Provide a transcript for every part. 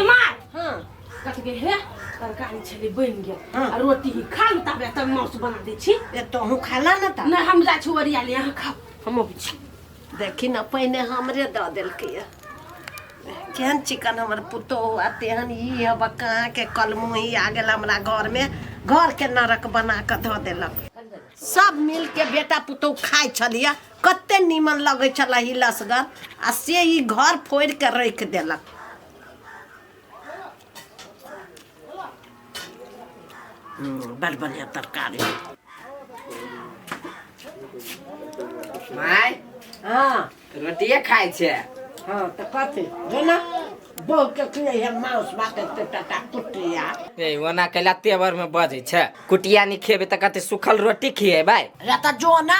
इमार हाँ कथी के हे तरकारी छले बन गेल हाँ। आ रोटी ही खा ले तबे तब माउस बना दे छी ए तो हूँ खाला ना था नहीं हम जा छी ओरिया ले यहाँ खाओ हम अबै छी देखी ना पहिने हमरे दऽ देलकै यऽ। केहन चिकन हमर पुतोह आ तेहन ई हब कहाँ के कलमुही आ गेल हमरा घर में घर के नरक बना कऽ धऽ देलक सब मिल के बेटा पुतोह खाइ छलियै कते नीमन लगे छला ही लसगर आ से ही घर फोड़ के रख देलक हम्म, बड़ बढ़िया तरकारी माय हाँ रोटिए खाइ छै हाँ तो कथी जो ना बहु के खिले है मांस बाटे ते टाटा कुटिया ए ओना कैला तेवर में बजै छै कुटिया नहि खेबै तऽ कते सुखल रोटी खिएबै या तो जो ना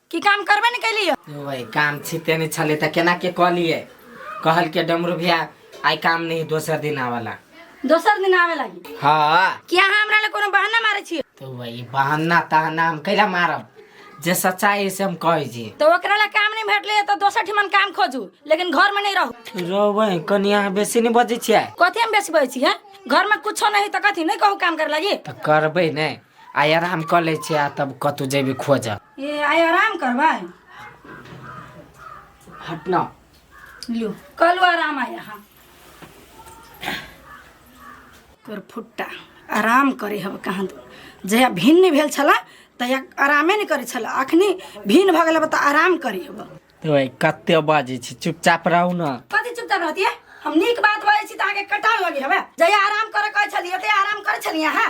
की काम करबे ने कैली हो यो भाई काम छिते नहीं छले त केना के कह लिए कहल के डमरू भैया आई काम नहीं दोसर दिन आवाला दोसर दिन आवे लागी हाँ कि अहाँ हमरा ले कोनो बहाना मारे छियै तो भाई बहाना तहाना हम कैला मारब जे सच्चाई है से हम कहे छी तो ओकरा ले काम नहीं भेटले तो दोसर ठिमन काम खोजू लेकिन घर में नहीं रहू रो भाई कनिया बेसी नहीं बजे छियै कथी हम बेसी बजै छियै घर में कुछो नहीं तो कथी नहीं कहू काम करे लागी त करबै नहीं आ आराम कर ले छियै आ तब कतौ जेबी खोजब ए आइ आराम करबै हटना लियो कलू आराम आय अहाँ तोर फुट्टा आराम करे हब कहाँ दू जहिया भिन्न भेल छला तहिया आरामे नहि करै छला अखनी भिन्न भऽ गेल तऽ आराम करे हब तो भाई कते बाजे छी चुपचाप रहू ना कथी चुपचाप रहतियै हम नीक बात बाजै छी तऽ अहाँके कटान लगे हवे जहिया आराम करे कहै छलियै तहिया आराम करै छलियै अहाँ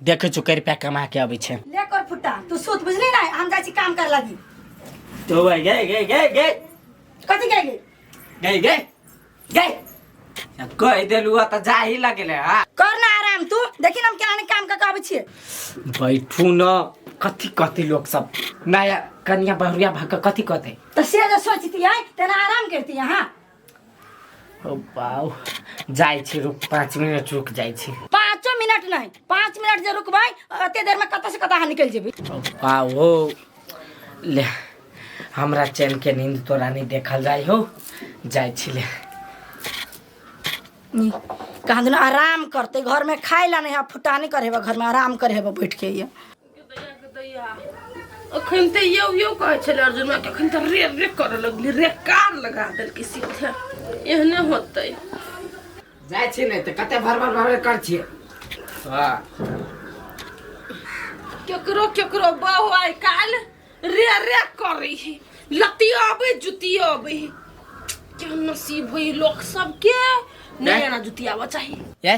देखै छु करि पा कमा के अबै छै ले कर फुट्टा तू सुत बुझली ना हम जाइ छी काम कर लागी तो भाई गए गए गए गए कथी कह गेल गए गए गए अब कह देलु आ त जा ही लगले हा कर ना आराम तू देखी ना हम केना काम कर के अबै छियै बैठू न कथी कहते लोग सब नया कनिया बहुरिया भक कथी कहते त से जे सोचती है तेना आराम करती है हाँ ओ बाउ जाइ छी रुक पाँच मिनट रुक जाइ छी पाँचो मिनट नहीं पाँच मिनट जे रुकबै अते देर में कतऽ से कतऽ अहाँ निकलि जेबै ओ बाउ हो ले हमरा चैन के नींद तोरा नहीं देखल जाइ हो जाइ छी ले नी, कहाँ दिन आराम करते घर में खाए ला नहीं है फुटानी करे हेबा घर में आराम करे हेबा बैठ के ये अखन तऽ यौ यौ कहै छलै अर्जुन के अखन तऽ रे रे कर लगली रे कार लगा देलकै सीधे एहने होतै जाइ छी नहि तऽ कते भर भर भर कर छियै हाँ। केकरो केकरो बहु आइ काल रे रे करै है लती आबै जुती आबै है क्या नसीब है लोक सबके नहीं आना जुती आबऽ चाहिए ये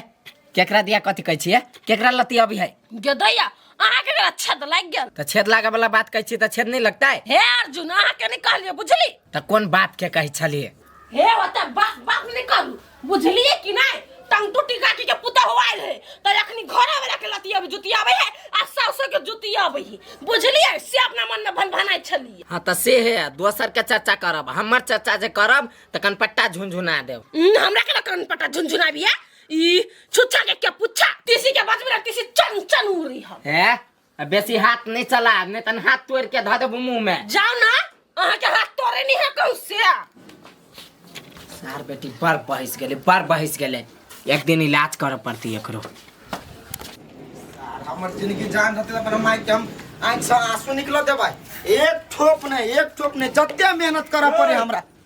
केकरा दिया कथी कहै छियै केकरा लती अभी है गेदैया अहाँ के गला छेद लागि गेल तऽ छेद लागे वाला बात कहै छियै तऽ छेद नहि लगतै हे अर्जुन अहाँ के नहि कहलियै बुझली तऽ कोन बाप के कहै छलियै हे ओते बात बात नहि करू बुझलियै कि नहि टंग टूटी काटी के पुता हो आयल है तऽ अखनी घरे वाला के लती अभी जुती आबै है आ सासो के जुती आबै है बुझलियै से अपना मन में भनभनाइ छलियै हाँ तऽ से है दोसर के चर्चा करब हमर चर्चा जे करब तऽ कनपट्टा झुनझुना देब हम्म, हमरा के लकन पटा झुनझुनाबिया ई छुच्छा के क्या पुच्छा तीसी के बात में तीसी चन चन उड़ रही है हैं अब बेसी हाथ नहीं चला नहीं तन हाथ तोड़ के धर देबो मुंह में जाओ ना अहाँ के हाथ तोड़े नहीं है कहूँ से सार बेटी बड़ बहस गेले बड़ बहस गेले एक दिन इलाज करे पड़ती एकरो हमर जिंदगी जान रहते अपन माई के हम आंख से आंसू निकल देबै एक ठोप नहीं एक ठोप नहीं जते मेहनत करे पड़े हमरा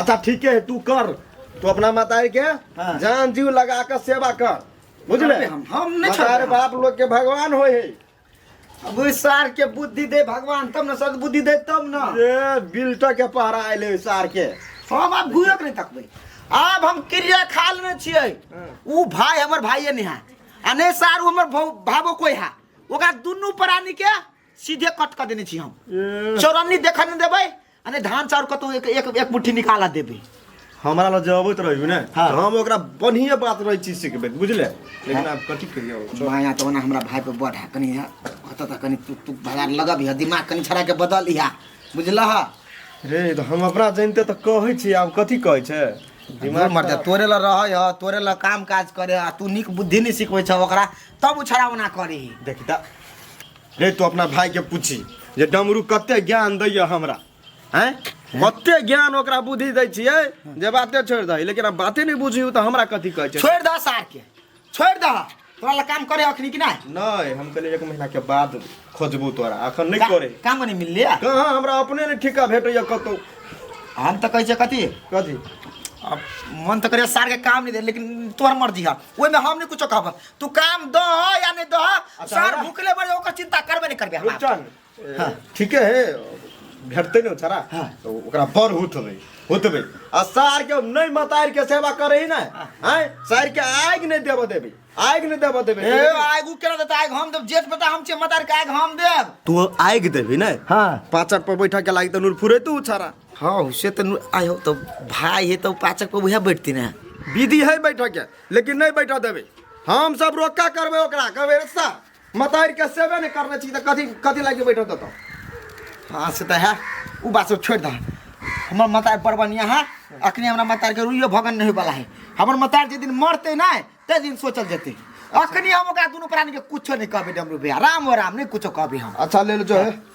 अच्छा ठीके है तू कर तू अपना मतारी के हाँ। जान जीव लगा के सेवा कर बुझले अरे हम- हम नहीं छोड़बे मतारी हम। बाप लोग के भगवान होय है अब ओइ सार के बुद्धि दे भगवान तब न सद बुद्धि दे तब न ए बिल्टर के पहरा आयल है सार के हम आब घुयो के नहीं तकबै आब हम क्रिया खा लेने छियै ऊ भाय हमर भाइये ने है आ नहि सार ऊ हमर भौ- भावो कोइ है ओकरा दुनू प्राणी के सीधे कट कऽ देने छी हम ए, चौरन्नी देखऽ नहि देबै अरे धान चाउर कतौ एक एक एक मुट्ठी निकाला देबे हमरा लग जबैत रहियो ने हाँ। तो हम ओकरा बढ़िया बात रही चीज सिखबे बुझले लेकिन आप कथी कहियो चल। माया तो ना हमरा भाई पे बढ़ा कनी है कत त कनी तू तू भगार लगब है दिमाग कनी छड़ा के बदल है बुझला है रे तो हम अपना जानते तो कहै छी आब कथी कहै छै दिमाग मर जा तोरे ला रहै है तोरे ला काम काज करे है तू निक बुद्धि नहीं सिखबै छ ओकरा तब उछड़ा ओना करे है देखी ता रे तू अपना भाई के पूछी जे डमरू कते ज्ञान दैया हमरा हैं कते ज्ञान ओकरा बुद्धि दै छियै जे बाते छोड़ि दही लेकिन अब बाते नहि बुझियौ तऽ हमरा कथी कहै छै छोड़ दह सार के छोड़ दह तोरा ला काम करे अखनी कि नहीं नहि हम कहलियै एक महीना के बाद खोजबू तोरा अखन नहि करे का- काम नहीं मिलले कहाँ हमरा अपने नहि ठिका भेटैया कतौ हम तो कहे छे कथी कथी अब मन तो करे सार के काम नहीं दे लेकिन तोहर मर्जी है ओहि में हम नहीं कुछो कहब तू काम दो हो या नहीं दो हो अच्छा, सर हमरा- भूखले बड़े ओकर चिंता करबे नहीं करबे हम आप। रुपचन हाँ। ठीके है भेटते नहीं छरा हाँ। तो ओकरा बड़ हुत होबे हुत होबे आ सार के नहीं मतार के सेवा करे ही ना हैं सार के आग नहीं देबो देबे आग नहीं देबो देबे ए आग उ केना देता आग हम देब जेठ पता हम छे मतार के आग हम देब तू आग देबे ना हाँ पाचक पर बैठा के लागी तो नूर फुरे तू छरा हाँ से तो आयो तो भाई है तो पाचक पर वह बैठती ना विधि है बैठा के लेकिन नहीं बैठा देवे हम सब रोका करबे ओकरा कहबे रस्ता मतार के सेवे नहीं करने छी त कथी कथी लागे बैठा देतो हाँ से त है उ बात सब छोड़ दा हमर मतार बड़ बढ़िया है अखने हमरा मतार के रुइयो भगन नहीं वाला है हमर मतार जे दिन मरते ना ते दिन सोचल जेते अखने हम ओकरा दुनु प्राणी के कुछो नहीं कहबे डमरू भैया राम हो राम नहीं कुछो कहबे हम अच्छा ले लो जो है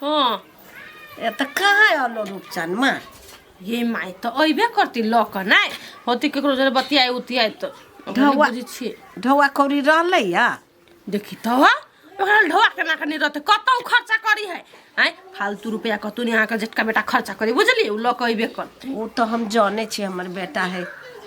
हँ ए तऽ कहाँ आलो रूपचन माँ ये माय तऽ अयबे करती लऽ कऽ नहि होती ककरो जरे बतियाए उतियाए तऽ ओकरा नहि ढौआ। बुझै छियै ढौआ कौड़ी रहलै या देखी तऽ ओकरा ढोआ केना कनी रहतै कतौ खर्चा करी है आँय फालतू रुपैआ कतौ नहि अहाँके जेटका बेटा खर्चा करी बुझलियै ओ लऽ कऽ अयबे करतै ओ तऽ हम जाने छी हमर बेटा है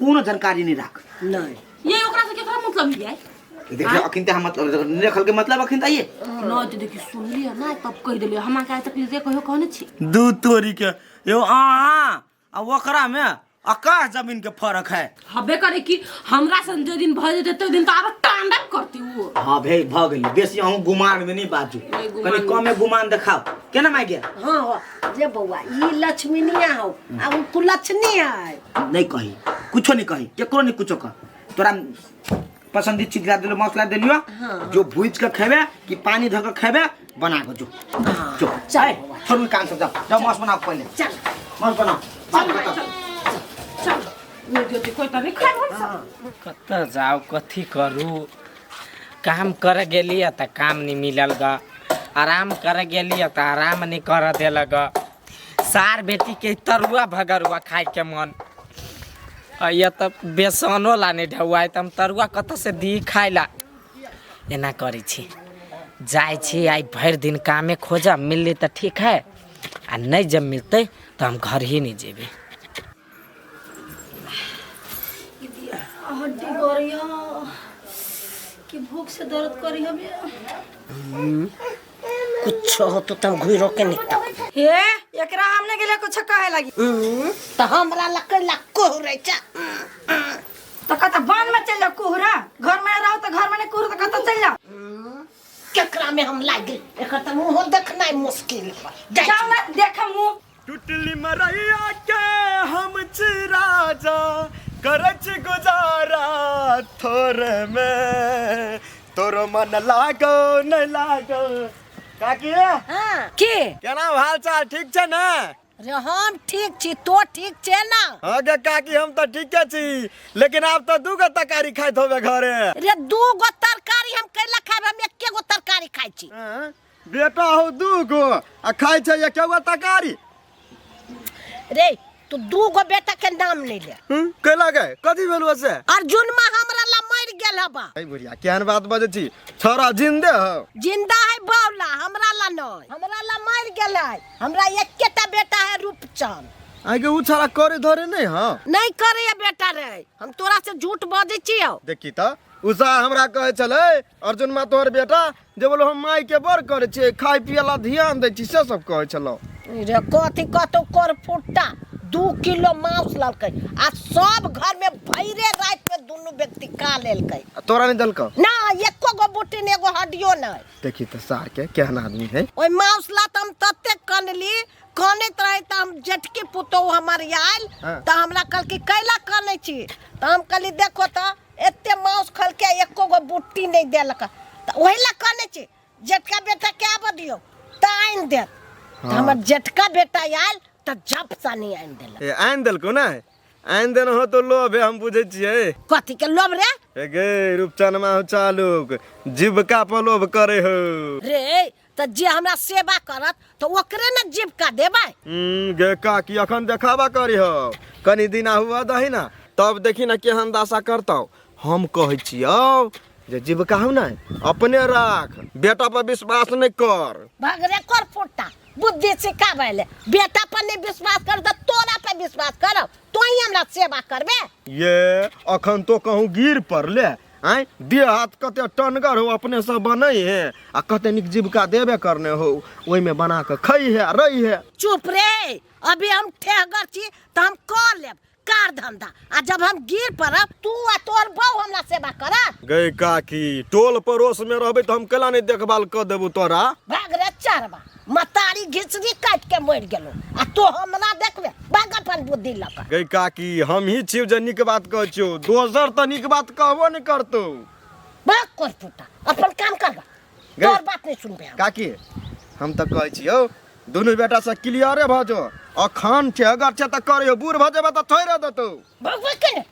कोनो जानकारी नहीं राख नहीं ये ओकरा से केकरा मतलब हियै देखिए अखिन ते हम मतलब नहीं रखल के मतलब अखिन ताइए ना तो देखी सुनली है ना तब कह दिले हमरा का तक जे कहियो कहने छी दू तोरी के यो आहा आ ओकरा में आकाश जमीन के फर्क है हबे करे कि हमरा से जे दिन भज जेते दिन तो आरो टांडप करती वो हाँ भाई भ गेल बेसी अहूँ गुमान में नहीं बाजू नहीं, गुमान कनी में। कमे गुमान देखाओ केना माय गया हाँ हो जे बौआ ई लक्ष्मीनिया हो आ उ कुलक्षणी है नहीं कही कुछो नहीं कही केकरो नहीं कुछो कह तोरा पसंदीद चीज ला दिलो मौसला दिलियो हाँ। जो भूज के खेबे कि पानी धर के खेबे बना के जो हाँ, जो चल ए, बाबा। छोड़ भी काम सब जा जा मौस बनाओ पहले चल मौस बनाओ बात चल भाई, बताओ चल चल चल ये ज्योति कोई तो नहीं खाए बोल सब कतऽ जाउ कथी करू काम कर गेलिए तऽ काम नहि मिलल ग आराम कर गेलिए तऽ आराम नहि कर देलक ग सार बेटी के तरुआ भगरुआ खाए के मन अइया तब बेसनो ला नहीं ढौआ है, त हम तरुआ कत से दी खाए ला एना करै छी जाए छी आइ भरि दिन कामे खोजब मिलली तऽ ठीक है आ नहि जब मिलतै तऽ हम घर ही नहीं जेबै कि दिया हड्डी करियो कि भूख से दर्द करियो बे कुछ हो तो तम घुई रोके निकता हे एकरा हमने के लिए कुछ कहे लगी तो हमरा लक लक्को हो रही चा तो कहता बन में चल जाओ कोहरा घर में रहो तो घर में नहीं कोहरा तो कहता चल जाओ केकरा में हम लागे एकर त मुंह देखनाइ मुश्किल बा। जाओ ना देख मुंह टुटली मरैया के हम छी राजा करै छी गुजारा थोरे मे तोरो मन लागो नै लागो काकी हाँ की केना हाल चाल ठीक छै ने रे हम ठीक छी तो ठीक छे ना हाँ गे काकी हम तऽ ठीके छी लेकिन आब तऽ दू गो तरकारी खाइत होबे घरे रे दू गो तरकारी हम कैला खाब हम एके गो तरकारी खाइ छी बेटा हो दू गो आ खाइ छै एक एगो तरकारी रे तू दू गो बेटा के नाम नहीं ले हम्म, कैला गए कथी भेल से अर्जुन में हमरा ला मर गेल है बा अरे बुढ़िया केहन बात बजै छी छोरा जिंदे हो जिंदा है बावला हमरा ला नहीं हमरा ला मर गेल है हमरा एकेटा बेटा है रूपचंद आगे उ छोरा करे धरे नहीं हाँ नहीं करे ये बेटा रे हम तोरा से झूठ बजे छियो देखी त उषा हमरा कहै छलै अर्जुन मा तोहर बेटा जे बोलो हम माय के बड़ करे छे खाय पिए ला ध्यान दे छी से सब कहे छलो रे कथी कतौ कर फुट्टा दू किलो मांस ललकै आ सब घर में भैरे रात में दुनू व्यक्ति का लेलकै आ तोरा नहीं दलक ना एको गो बुटी ने एगो हड्डियो नहीं देखी तो सार के केहन आदमी है ओइ मांस ला त हम तते कनली कनैत रहे त हम जेठकी पुतोहु हमर आयल हाँ। त हमरा कहलकै कैला कनै छी त हम कहली देखो त एते माउस खलके एको गो बुट्टी नहि देलक तऽ ओहि लए कहने छी जेठका बेटा के आबऽ दियौ तऽ आनि देत तऽ हमर जेठका बेटा आयल तऽ झप सानी आनि देलक ए आनि देलको ने आनि देने हो तो लोभ है हम बुझे छियै कथी के लोभ रे ए गे रूपचनमा हो चालुक जीविका पर लोभ करे हो रे तऽ जे हमरा सेवा करत तऽ ओकरे ने जीविका देबै हम्म, गे काकी अखन देखावा करी हो कनी दिना हुआ दही ना तब देखी ना केहन दासा करतौ हम कहै छियौ जे जीविका हौ ने अपने राख बेटा पर विश्वास नहि कर भगरे कर फुट्टा बुद्धि सिखाबै ले बेटा पर नहीं विश्वास कर तऽ तोरा पे विश्वास करब तो ही हमरा सेवा करबे ये अखन तो कहूँ गिर पड़ले आँय देह हाथ कते टनगर हो अपने सब बनै हे आ कते नीक जीविका देबे करने हो ओहिमे बना कऽ खै हे आ रहि हे चुप रे अभी हम ठेहगर छी तऽ हम कर लेब कार धंधा आ जब हम गिर पड़ब तू आ तोहर बहू हमरा सेवा करत गए काकी टोल पड़ोस में रहबे तो हम केला नहीं देखभाल कर देबू तोरा भाग रे चरबा मतारी घिचरी काट के मर गेलो आ तो हमरा देखबे बाग अपन बुद्धि लऽ कऽ गई काकी हम ही छियो जे नीक बात कहै छियो दोसर तऽ नीक बात कहबो ने करतौ बाग कर पुता अपन काम कर बा गई। तोर बात नहीं सुनबे हम काकी हम तऽ कहै छियो दुनू बेटा से क्लियरे भऽ जो अखन छै अगर छै तऽ करियो बूढ़ भऽ जेबे तऽ थोड़े देतौ भगवे के ने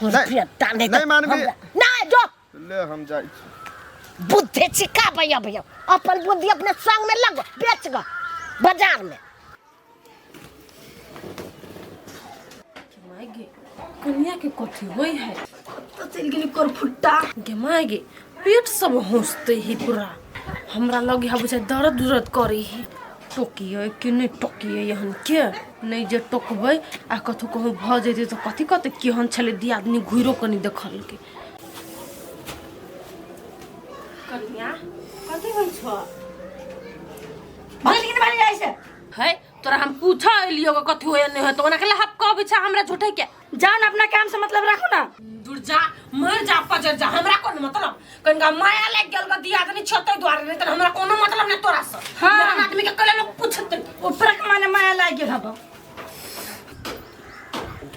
नहीं- नहीं मानबी। नहीं जो ले हम जाइ छी बुद्धि छिका भैया भैया अपन बुद्धि अपने संग में लगो बेच गो बाजार में माय गे कनिया के कथी होय है कतऽ चलि गेली कर फुट्टा गे माय गे पेट सब होसते ही पूरा हमरा लगे है बुझाय दर्द उर्द करे ही टोकिए कि नहि टोकिए एहन के नहि जे टोकबै आ कथू कहूँ भऽ जैतै तऽ कथी कहतै केहन छलै दियादनी घुरिओ कऽ नहि देखलकै कन्या कथी होइ छ भगल किन बारी जाइ छै है तोरा हम पूछा एलियो के कथी होय नहीं होय तो ओना के लहप कहबे छै हमरा झूठे के जान अपना काम से मतलब राखो ना जुड़ जा मर जा पजर जा हमरा कोन मतलब कनका माया लाग गेल बा दिया तनी छते द्वारे नहीं त हमरा कोनो मतलब नहीं तोरा से हाँ। जहन आदमी के कले लोग पूछत नहीं। ऊपर के माने माया लाग गेल हब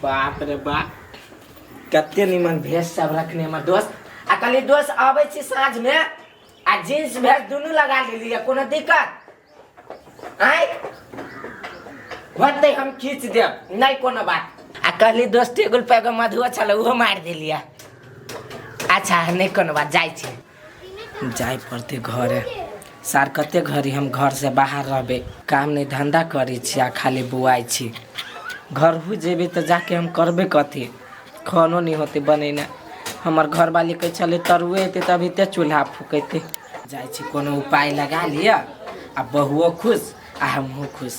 बाप रे बाप कते निमन भेष सब रखने हमर दोस्त आ कहली दोस्त आबै छी साँझ में आ जींस भेष दुनू लगा लेलियै कोनो दिक्कत आय होतै हम खींच देब नहि कोनो बात आ कहली दोस्त टेबुल पर एगो मधुओ छलै ओहो मारि देलियै अच्छा नहि कोनो बात जाइ छी जाय पड़ते घरे सार कते घड़ी हम घर से बाहर रहबे काम नहीं धंधा करे छी आ खाली बुआई छी घर हो जेबे तो जाके हम करबे कथी खानो नहीं होते बनेना हमर घर वाली कहे चले तरुए एते तभी ते चूल्हा फूकते जाय छी कोनो उपाय लगा लिया आ बहुओ खुश आ हमहूँ खुश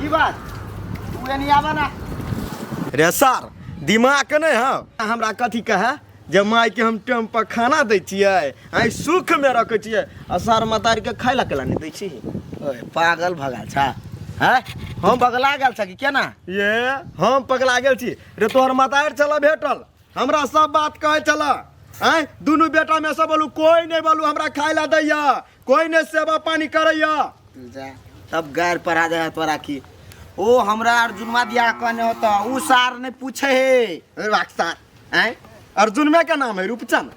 की बात तू एनी आबा ना रे सर दिमाग के नहीं है हमरा कथी कहे जे माय के हम टाइम पर खाना दै छियै आई सुख में रखे छियै आ सर मतार के खाय ला केला नहीं दै छी ओए पागल भगल छा हैं हम पगला गेल छा कि केना ये हम पगला गेल छी रे तोहर मतार चला भेटल हमरा सब बात कहै छला आय दुनू बेटा में से बोलू कोई नहीं बोलू हमरा खाय ला दैया कोई नहीं सेवा पानी करैया तू जा तब गैर पढ़ा दे है तोरा की ओ हमरा अर्जुनमा दिया कहने होता उ सार ने पूछे हे अरे वाकसार आय अर्जुन में का नाम है रूपचंद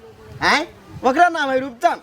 आय ओकरा नाम है रूपचंद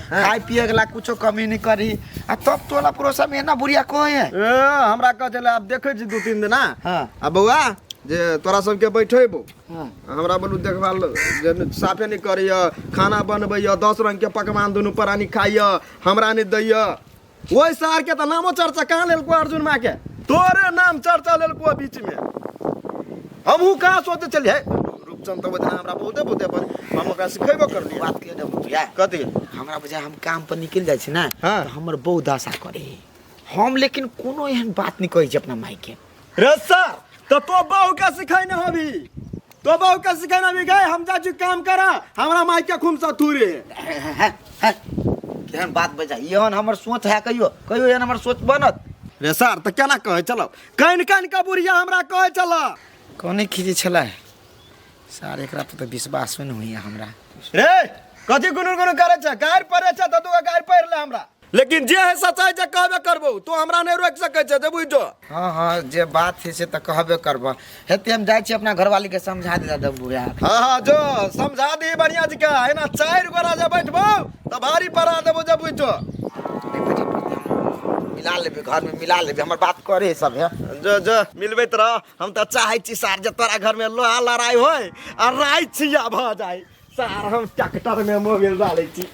हाँ। खाए पिए वाला कुछो कमी नहीं करी आ तब तोला पड़ोसा में ना बुढ़िया कोई है ए, हमरा कह चले आब देखे छी दू तीन दिना हाँ। आ बौआ जे तोरा सबके बैठेबो हाँ। हमरा बोलू देखभाल जे न- साफे नहीं करैय खाना बनबैय दस रंग के पकवान दुनू प्राणी खाइय हमरा नहीं दैय ओहि सार के तऽ नामो चर्चा कहाँ लेलको अर्जुन माँ के तोरे नाम चर्चा लेलको बीच में हमहू कहाँ सोचे चलिए रूपचंद तो बदना हमरा बहुते बहुते पर हम ओकरा सिखेबो कर लिया बात के देबो तुया कथी हमरा बुझा हम काम पर निकल जाइ छी ना हाँ। तऽ हमर बहुत आशा करे हम लेकिन कोनो एहन बात नहि कहै छी अपना माय के रस्सा तो तो बहू का सिखाने होबी तो बहू का सिखाने होबी गए हम जा जी काम करा हमरा माई के खूम सा थूरे केहन बात बजा एहन हमर सोच है कहियो कहियो एहन हमर सोच बनत रे सर तो केना कहे चलो कान कान का बुढ़िया हमरा कहे चला कौने खींचे छलै सार एकरा पर तो विश्वास नहीं होइए हमरा रे कथी गुनु गुनु करे छ गायर परे छ त तू गायर परे ले हमरा लेकिन जे है सच्चाई जे कहबे करबो तो हमरा नहीं रोक सके छे जे बुझ जो हाँ हाँ जे बात है से तो कहबे करब हेते हम जाए छी अपना घरवाली के समझा दे दब बुआ हाँ हाँ जो समझा दी बढ़िया जी का है ना चार गोरा जे बैठबो तो भारी पड़ा देबो जे बुझ जो मिला लेबे घर में मिला लेबे हमर बात करे सब है जो जो मिलबे तो रह हम तो चाहे छी सार जे तोरा घर में लोहा लड़ाई होय आ राय छिया भ जाए सार हम ट्रैक्टर में मोबिल डाले छी